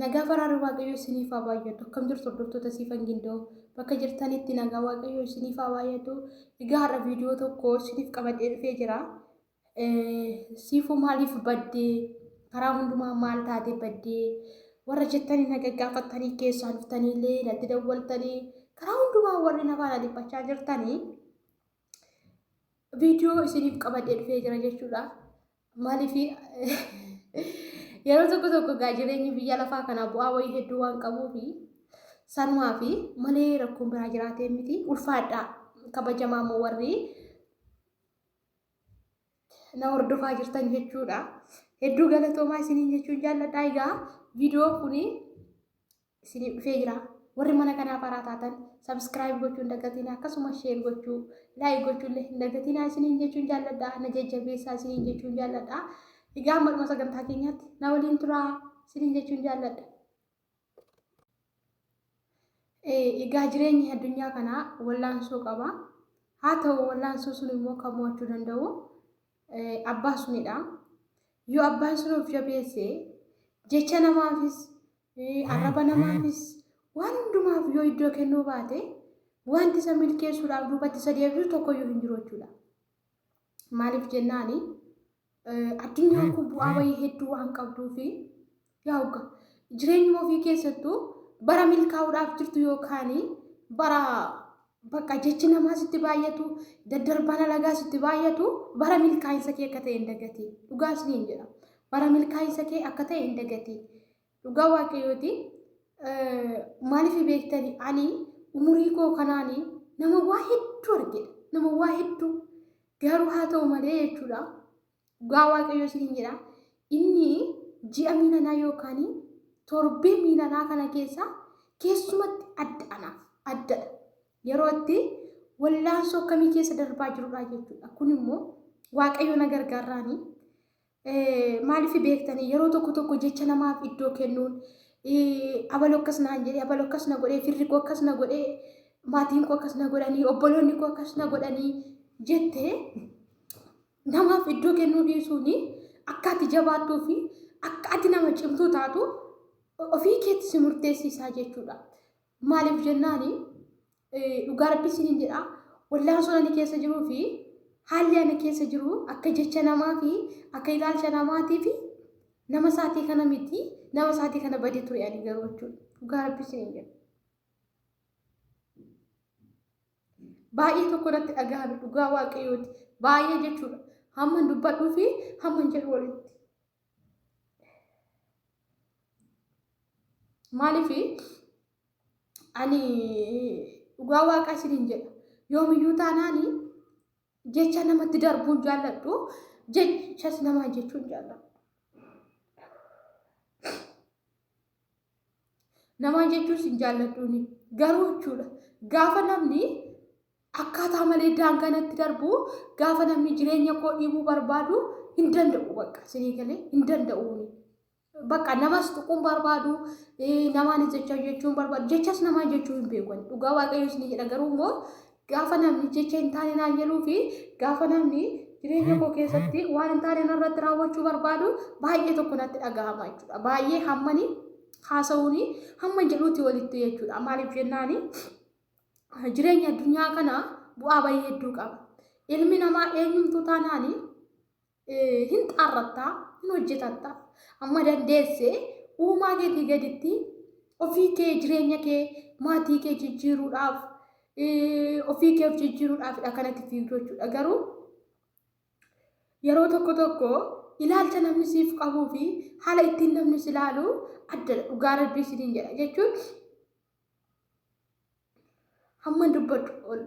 Nagaa faraarri Waaqayyoo isiniif haa baay'atu. Akkam jirtu hordoftoota siifan gindoo bakka jirtanitti nagaa Waaqayyoo isiniif haa baay'atu. Egaa har'a viidiyoo tokko isiniif qabadhee dhufee jira. Siifuu maaliif baddee karaa hundumaa maal taatee baddee warra jettanii na gaggaafattanii keessaa dhuftanii illee natti dawwaltanii karaa hundumaa warri na faana dhiphachaa jirtanii viidiyoo isiniif qabadhee dhufee jira jechuudha. Maaliif yeroo tokko tokko gaa jireenyi biyya lafaa kana bu'aa wayii hedduu waan qabuufi sanumaa fi malee rakkoon biraa jiraatee miti ulfaadha kabajamaa immoo warri na hordofaa jirtan jechuudha. Hedduu galatoomaa isiniin jechuun jaalladha. Egaa viidiyoo kun isiniif dhufee jira. Warri mana kanaa faraa taatan subscribe gochuun dagatina akkasumas share gochuu like gochuullee hin dagatinaa isiniin jechuun jaalladha na jajjabeessaa isiniin jechuun jaalladha. Egaa amma dhuma sagantaa keenyaatti na waliin turaa isiniin jechuun jaalladha. Egaa jireenyi addunyaa kanaa wallaansoo qaba. Haa ta'u wallaansoo sun immoo kan mo'achuu danda'u abbaa sunidha. Yoo abbaan sun of jabeesse jecha namaafis Ee, arraba namaafis waan hundumaaf yoo iddoo kennuu baate, wanti isa milkeessuudhaaf duubatti isa deebisu tokkoyyuu hin jiru jechuudha. Maaliif jennaani eh, addunyaan kun bu'aa wayii hedduu waan qabduu fi yaa hogga jireenyuma ofii keessattuu bara milkaa'uudhaaf jirtu yookaan bara bakka jechi namaa sitti baay'atu daddarbaan alagaa sitti baay'atu bara milkaa'insa kee akka ta'e hin dagatiin dhugaas niin jedha bara milkaa'insa kee akka ta'e hin dagatiin Dhugaa waaqayyooti maaliif beektani ani umurii koo kanaan nama waa hedduu argedha. Nama waa hedduu garuu haa ta'u malee jechuudha. Dhugaa waaqayyoo siin jedha. Inni ji'a miilanaa yookaan torbee miilanaa kana keessa keessumatti adda anaaf addadha. Yeroo itti wallaansoo akkamii keessa darbaa jirudha jechuudha. Kun immoo waaqayyo na gargaarraani. Maaliif beektanii yeroo tokko tokko jecha namaaf iddoo kennuun abaloo akkas naan jedhee abaloo akkas na godhee firri koo akkas na godhee maatiin koo akkas na godhanii obboloonni koo akkas na godhanii jettee namaaf iddoo kennuu dhiisuun akka ati jabaattuu fi akka ati nama cimtuu taatu ofii keetti si murteessisaa jechuudha. Maaliif jennaan dhugaa rabbi isiniin jedha wallaansoo ani keessa jiruu fi haalli ani keessa jiru akka jecha namaa fi akka ilaalcha namaatii fi nama isaatii kana miti nama isaatii kana badee ture ani garuu jechuudha dhugaa rabbi isiniin jedha. Baay'ee tokko irratti dhagahame dhugaa waaqayyooti baay'ee jechuudha hamman dubbadhuu fi hamman jedhu walitti. Maaliif ani dhugaa waaqaa isiniin jedha yoomiyyuu taanaan jecha namatti darbuun jaalladhu jechas namaa jechuun jaalladhu. Namaan jechuun sin jaalladhuuni. Garuu jechuudha gaafa namni akkaataa malee daangaa natti darbu gaafa namni jireenya koo dhiibuu barbaadu hin danda'u bakka sinii galee hin danda'uuni. Bakka namas tuquun barbaadu eh, namaanis jecha jechuun barbaadu jechas namaa jechuu hin beeku ani. dhugaa waaqayyoos ni jedha garuu immoo Gaafa namni jecha hin taane naan jedhuu fi gaafa namni jireenya koo keessatti waan hin taane narratti raawwachuu barbaadu baay'ee tokko natti dhagahama jechuudha. Baay'ee hammani haasa'uun hamman jedhuutti walitti jechuudha. Maaliif jennaani jireenya addunyaa kana bu'aa baay'ee hedduu qaba. Ilmi namaa eenyumtuu taanaani hin xaarratta, hin hojjetatta. Amma dandeesse uumaa keetii gaditti ofii kee jireenya kee maatii kee jijjiiruudhaaf ofii kee of jijjiiruudhaafidha kanatti fiigdu jechuudha. Garuu yeroo tokko tokko ilaalcha namni siif qabuu fi haala ittiin namni si ilaalu addadha. Dhugaa rabbii isiniin jedha jechuun Hamman dubbadhu ol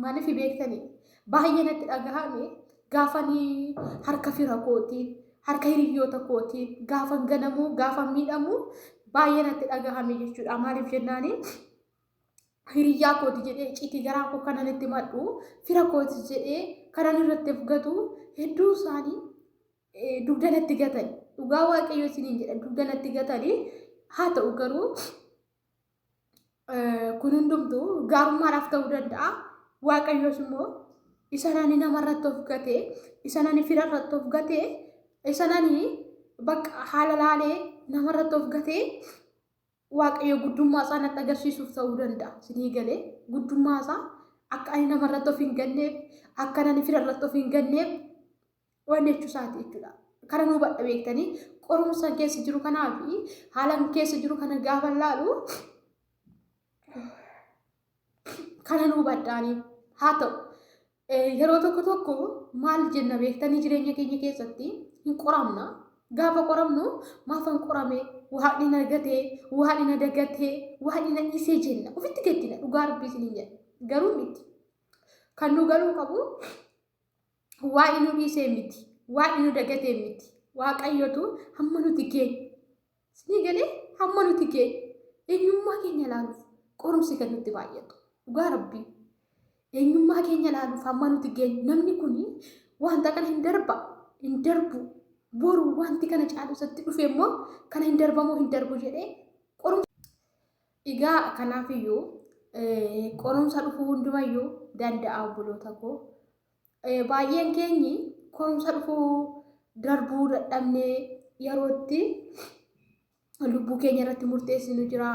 maaliif beektanii baay'ee natti dhagahame gaafanii harka fira kootii harka hiriyyoota kootii gaafan ganamuu gaafan miidhamuu baay'ee natti dhagahame jechuudha maaliif jennaanii hiriyyaa kooti jedhee citii garaa koo kanan itti madhu fira kooti jedhee kanan irratti fugatu hedduu isaanii dugda natti gatan dhugaa waaqayyoo isiniin jedha dugda natti gatanii haa ta'u garuu kun hundumtu gaarummaadhaaf ta'uu danda'a. Waaqayyoos immoo isa nani nama irratti of gatee, isa nani fira irratti of gatee, isa nani bakka haala laalee nama irratti of gatee waaqayyo guddummaa isaa natti agarsiisuuf ta'uu danda'a. Sinii galee guddummaa isaa akka ani nama irratti of hin ganneef, akka nani fira irratti of hin ganneef waan jechuu isaati jechuudha. Kana nu hubadha beektanii qorumsa keessa jiru kanaa fi haala keessa jiru kana gaafa laalu kana nu hubadhaanii haa ta'u. Yeroo tokko tokko maal jenna beektanii jireenya keenya keessatti hin qoramna. Gaafa qoramnu maaf hin qorame waan hin argatee waan hin adagatee waan hin dhisee jenna ofitti gaddina dhugaa rabbii isin hin jenna garuu miti kan nu galuu qabu Waa'i nu dhiisee miti. Waa'i nu dagatee miti. Waaqayyotu hamma nuti gee. Sinii galee hamma nuti gee. Eenyummaa keenya ilaaluuf qorumsi kan nutti baay'atu. Dhugaa rabbii. Eenyummaa keenya ilaaluuf hamma nuti gee. Namni kun wanta kana hin darba. Hin darbu. Boru wanti kana caalu isatti dhufe immoo kana hin darbamoo hin darbu jedhee qorumsa. Egaa kanaafiyyuu qorumsa dhufuu hundumayyuu danda'a obboloota koo. Eh, Baay'een keenyi qorumsa dhufuu darbuu dadhabnee yerootti lubbuu keenya irratti murteessinu jira.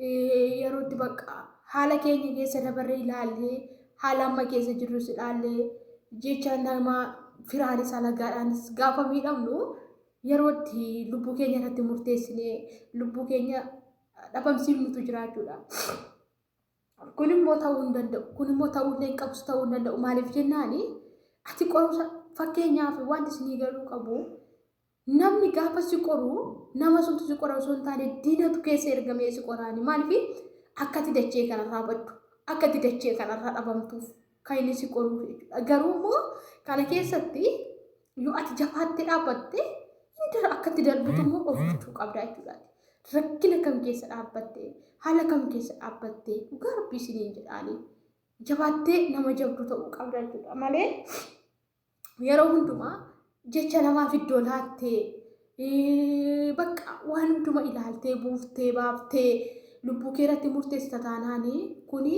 Eh, Yerootti bakka haala keenya keessa dabarree ilaallee haala amma keessa jirrus ilaallee jecha nama firaanis alagaadhaanis gaafa miidhamnu yerootti lubbuu keenya irratti murteessinee lubbuu keenya dhabamsiifnutu jira jechuudha. Kun immoo ta'uu hin danda'u. Kun immoo ta'uu illee hin qabus ta'uu hin danda'u. Maaliif jennaani ati qorumsa fakkeenyaaf wanti isinii galuu qabu namni gaafa si qoru nama suntu si qora osoo hin taane diinatu keessa ergamee si qoraani. Maaliif akkati dachee kanarraa baddu akkati dachee kanarraa dhabamtuuf kan inni si qoruuf jechuudha. Garuu immoo kana keessatti yoo ati jabaattee dhaabbatte hin dara akkatti darbitu immoo of gochuu qabda jechuudha. Rakkina kam keessa dhaabbatte haala kam keessa dhaabbatte dhugaa rabbii isiniin jedhaanii jabaattee nama jabdu ta'uu qabda jechuudha malee yeroo hundumaa jecha namaaf iddoo laattee eh, bakka waan hunduma ilaaltee buuftee baaftee lubbuu kee irratti murteessita taanaani kuni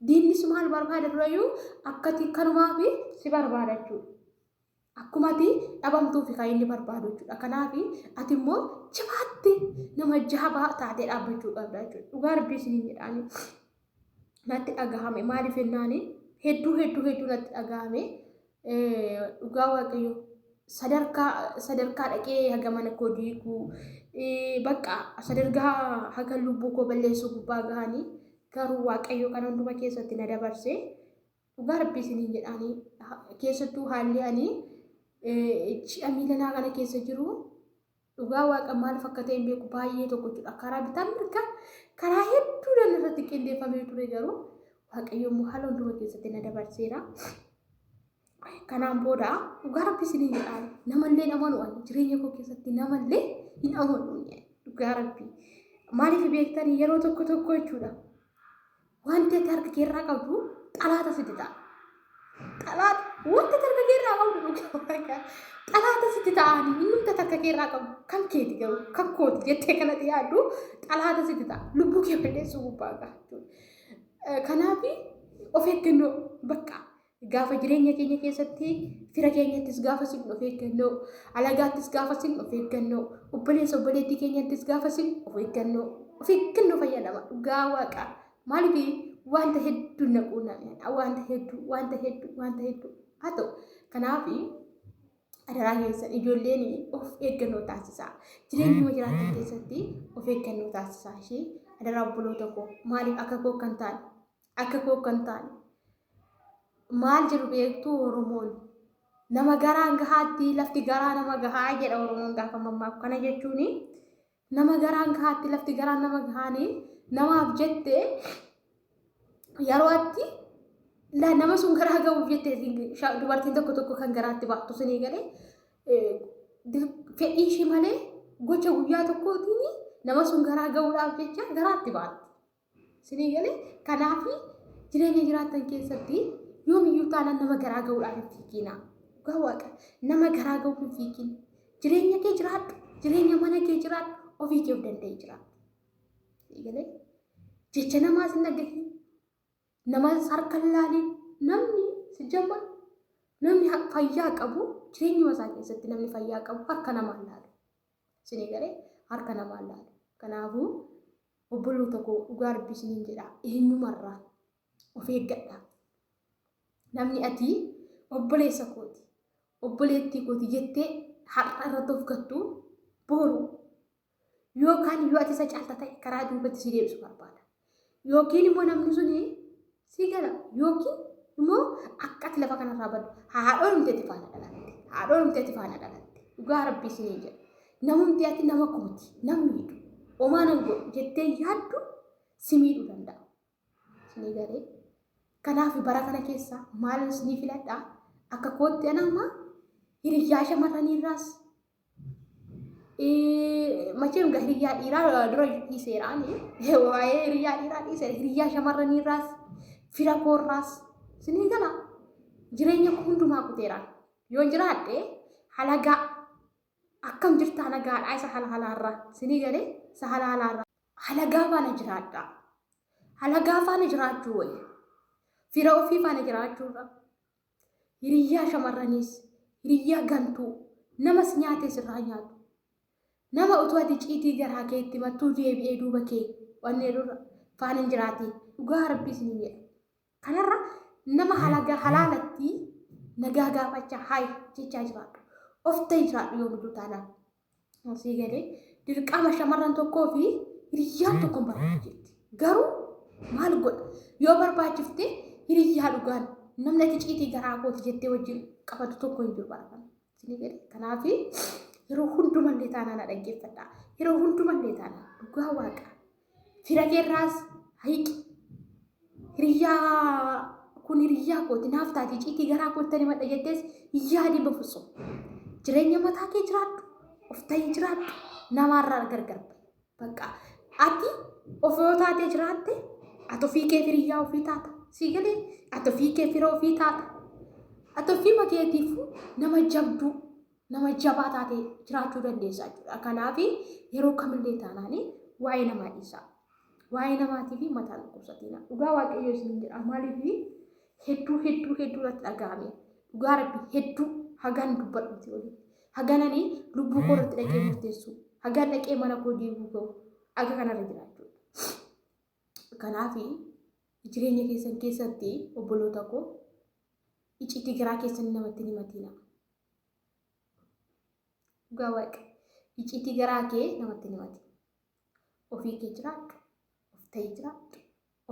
diinni si maal barbaada durayyuu akkati kanumaafi si barbaada jechuudha. Akkuma ati dhabamtuufi kan inni barbaadu jechuudha. Kanaaf ati immoo jabaatti nama jabaa taatee dhaabbachuu qabda jechuudha. Dhugaa rabbii isin hin jedhaani. natti dhagahame maaliif jennaani hedduu hedduu hedduu natti dhagahame dhugaa waaqayyo sadarkaa sadarkaa dhaqee haga mana koo diiguu bakka sadarkaa haga lubbuu koo balleessuu gubbaa gahanii garuu waaqayyo kan hunduma keessatti na dabarse dhugaa rabbii isiniin jedhaanii keessattuu haalli ani ji'a miilanaa kana keessa jiru Dhugaa waaqa maaliif akka ta'e hin beeku baay'ee tokko jechuudha. Karaa bitaa mirgaa karaa hedduudhaan irratti qindeeffamee ture garuu waaqayyo immoo haala hunduma keessatti na dabarseera. Kanaan booda dhugaa rabbi isiniin jedhaan namallee hin amanu ani jireenya koo keessatti namallee hin amanu dhugaa rabbi. Maaliif beektanii yeroo tokko tokko jechuudha. Wanti ati harka kee irraa qabdu xalaata sitti ta'a. Xalaata wanti ati harka kee irraa qabdu dhugaa waaqa. Xalaata sitti ta'ani innumti ati harka kee irraa qabdu kan keeti garuu kan kooti jettee kanatti yaaddu xalaata sitti ta'a. Lubbuu kee balleessuu gubbaa gaha jechuudha. Eh, Kanaafi of eeggannoo bakka Gaafa jireenya keenya keessatti fira keenyattis gaafa sin of eeggannoo, alagaattis gaafa sin of eeggannoo, obboleessa obboleettii keenyattis gaafa sin of eeggannoo. Of eeggannoo fayyadama dhugaa waaqa. Maaliif wanta hedduu na quunnamedha. Wanta hedduu, wanta hedduu, wanta hedduu. Haa ta'u kanaaf adaraa keessan ijoolleen of eeggannoo taasisaa. Jireenyuma jiraatan keessatti of eeggannoo taasisaa ishee adaraa obboloota koo maaliif akka koo kan ta'an Akka koo kan taane. Maal jedhu beektuu Oromoon? Nama garaan gahaatti lafti garaa nama gahaa jedha Oromoon gaafa mammaaku. Kana jechuun nama garaan gahaatti lafti garaan nama gahaani namaaf jette yeroo atti la- nama sun garaa gahuuf jette sha- dubartiin tokko tokko kan garaatti baattu sinii galee eh, dir- fedhii ishii malee gocha guyyaa tokkootiin nama sun garaa gahuudhaaf jecha garaatti baatti. Sinii galee kanaaf jireenya jiraattan keessatti yoomiyyuu taanaan nama garaa ga'uudhaaf hin fiigiina. Dhugaa waaqa nama garaa ga'uuf hin fiigiin. Jireenya kee jiraadhu, jireenya mana kee jiraadhu, ofii kee of danda'ee jiraadhu. Sinii galee jecha namaa sin dhaggeessin, nama harka hin laaliin, namni si jamma namni ha- fayyaa qabu jireenyuma isaa keessatti namni fayyaa qabu harka namaa hin laalu. Isinii galee harka namaan laalu. Kanaafuu obboloota koo dhugaa rabbii isiniin jedha eenyumarraa of eeggadha. Namni ati obboleessa kooti obboleettii kooti jettee har'a irratti of gattu boru yookaan yoo ati isa caalta ta'e karaa duubatti si deebisu barbaada. Yookiin immoo namni sun si gala yookiin immoo akka ati lafa kanarraa baddu haadhoon humteetti faana dhalatte haadhoon humteetti faana dhalatte dhugaa rabbii isin hin jedhu namumti ati nama kooti nam miidhu omaa nan godhu jettee yaaddu si miidhuu danda'a. Isinii galee kanaaf bara kana keessa maal isinii filadha akka kootti anaamaa hiriyyaa shamarraniirraas Macheen egaa hiriyaa dhiiraa dura dhiiseeraan waa'ee hiriyaa dhiiraa dhiiseera hiriyaa shamarranii irraas fira koo irraas sinii gala jireenya koo hundumaa kuteera yoon jiraadhe halagaa akkam jirta halagaadhaa isa halaalaa irraa sinii galee isa halaalaa irraa halagaa faana jiraadhaa halagaa faana jiraachuu wayya fira ofii faana jiraachuurra Hiriyyaa shamarraniis, hiriyyaa gantuu, nama si nyaatee sirraa nyaatu. Nama utuu ati iciitii garaa kee itti mattuu deebi'ee duuba kee waan jedhurra faan hin jiraati. Dhugaa rabbii isiniin jedha. Kanarra nama halaga halaalatti nagaa gaafachaa haay jechaa jiraadhu. Of ta'i jiraadhu yoomiduu taanaan. Asii galee dirqama shamarran tokkoo fi hiriyyaan tokko hin barbaadu jetti. Garuu maal godha? Yoo barbaachifte hiriyyaa dhugaan namni ati ciitii garaa kooti jettee wajjin qabatu tokko hin jiru barbaadu. Isinii galee kanaaf yeroo hundumallee taanaan na dhaggeeffadha. Yeroo hundumallee taanaan dhugaa waaqa. Fira keerraas hiqi. Hiriyyaa kun hiriyyaa kooti naaf taati ciitii garaa kootti ani madha jettees hin yaadin bafusoo. Jireenya mataa kee jiraadhu. Of ta'ii jiraadhu. Namaarraa gargar ba'i. Bakka ati of yoo taatee jiraatte ati ofii kee hiriyyaa ofii taata. Sii galee ati ofii kee fira ofii taata. Ati ofii makeetiifuu nama jabduu. nama jabaa taatee jiraachuu dandeessaa jechuudha. Kanaaf yeroo kamillee taanaanii waa'ee namaa dhiisaa. Waa'ee namaatii fi mataa dhukkubsatiina. Dhugaa waaqayyoo isin jedha maaliif hedduu hedduu hedduu irratti dhaga'ame. Dhugaa rabbi hedduu hagaan dubbadhuuti olii. Hagananii lubbuu koo irratti dhaqee murteessu. Hagaan dhaqee mana koo deebi'uu ga'u. Aga kanarra jiraachuu. Kanaaf jireenya keessan keessatti obboloota koo icciitii garaa keessan namatti hin himatiina. Dhugaa waaqa iciitii garaa kee namatti namati. Ofii kee jiraadhu, of ta'ii jiraadhu,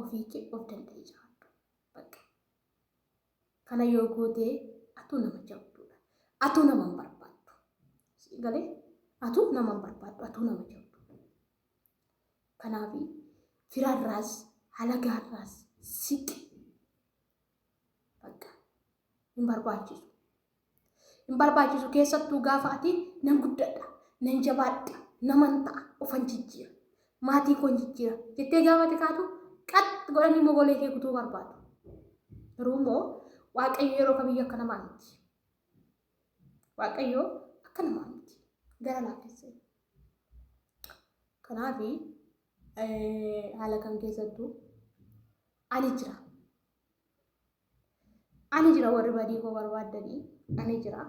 ofii kee of danda'ii jiraadhu. Bakka kana yoo gootee atuu nama jabduudha. Atuu nama hin barbaaddu. Sii galee atuu nama hin barbaaddu, atuu nama jabduudha. Kanaaf firarraas halagaarraas siqi. Bakka hin barbaachisu. Hin barbaachisu keessattuu gaafa ati nan guddadha, nan jabaadha, naman ta'a, ofan jijjiira, maatii koon jijjiira jettee gaafa ati kaatu qax godhanii immoo golee kee kutuu barbaadu. Garuu immoo Waaqayyo yeroo kamiyyuu akka namaa miti. Waaqayyo akka namaa miti. Gara laafessa. Kanaaf haala kam keessattuu ani jira. Ani jira warri badii koo barbaaddanii ani jira.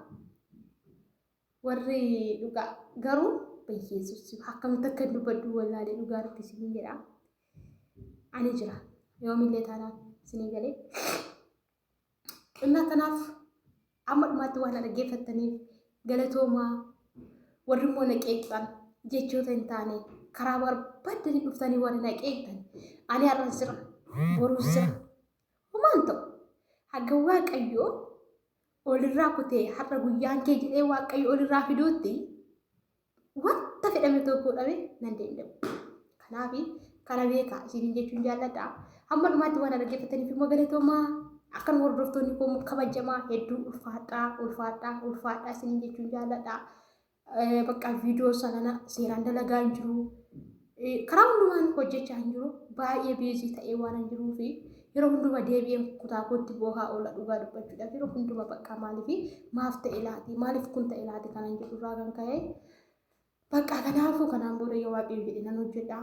Warri dhugaa garuu bayyeessus akkamitti akka dubbadhu wallaalee dhugaa nuti isin jedha. Ani jira yoomillee taanaan isinii galee. Kennaa tanaaf amma dhumaatti waan na dhaggeeffattaniif galatoomaa warri immoo na qeeqxan jechoota hin taane karaa barbaaddanii dhuftanii warri na qeeqxan ani har'an sira boruu sira humaan ta'u haga waaqayyoo olirraa kutee har'a guyyaan kee jedhee waaqayyo olirraa fiduutti wanta fedhame tokko dhabe nan danda'u. Kanaaf kana beekaa isiniin jechuun jaalladha. Hamma dhumaatti waan dhaggeeffataniif immoo galatoomaa akka nu hordoftoonni koo immoo kabajamaa hedduu ulfaadhaa ulfaadhaa ulfaadhaa isiniin jechuun jaalladha. Bakka viidiyoo isaa kana seeraan dalagaa hin jiru. Karaa hundumaan hojjechaa hin jiru. Baay'ee beezii ta'ee waan hin jiruu fi yeroo hundumaa deebi'een kutaa kootti boohaa oola dhugaa dubbachuudhaaf yeroo hundumaa bakka maaliif maaf ta'e laati maaliif kun ta'e laati kanan jedhu irraa kan ka'e bakka kanaafuu kanaan booda yoo waaqayyo jedhe nan hojjedha.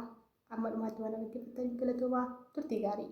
Amma dhumaatti waan dhaggeeffattan galatoomaa turtii gaarii.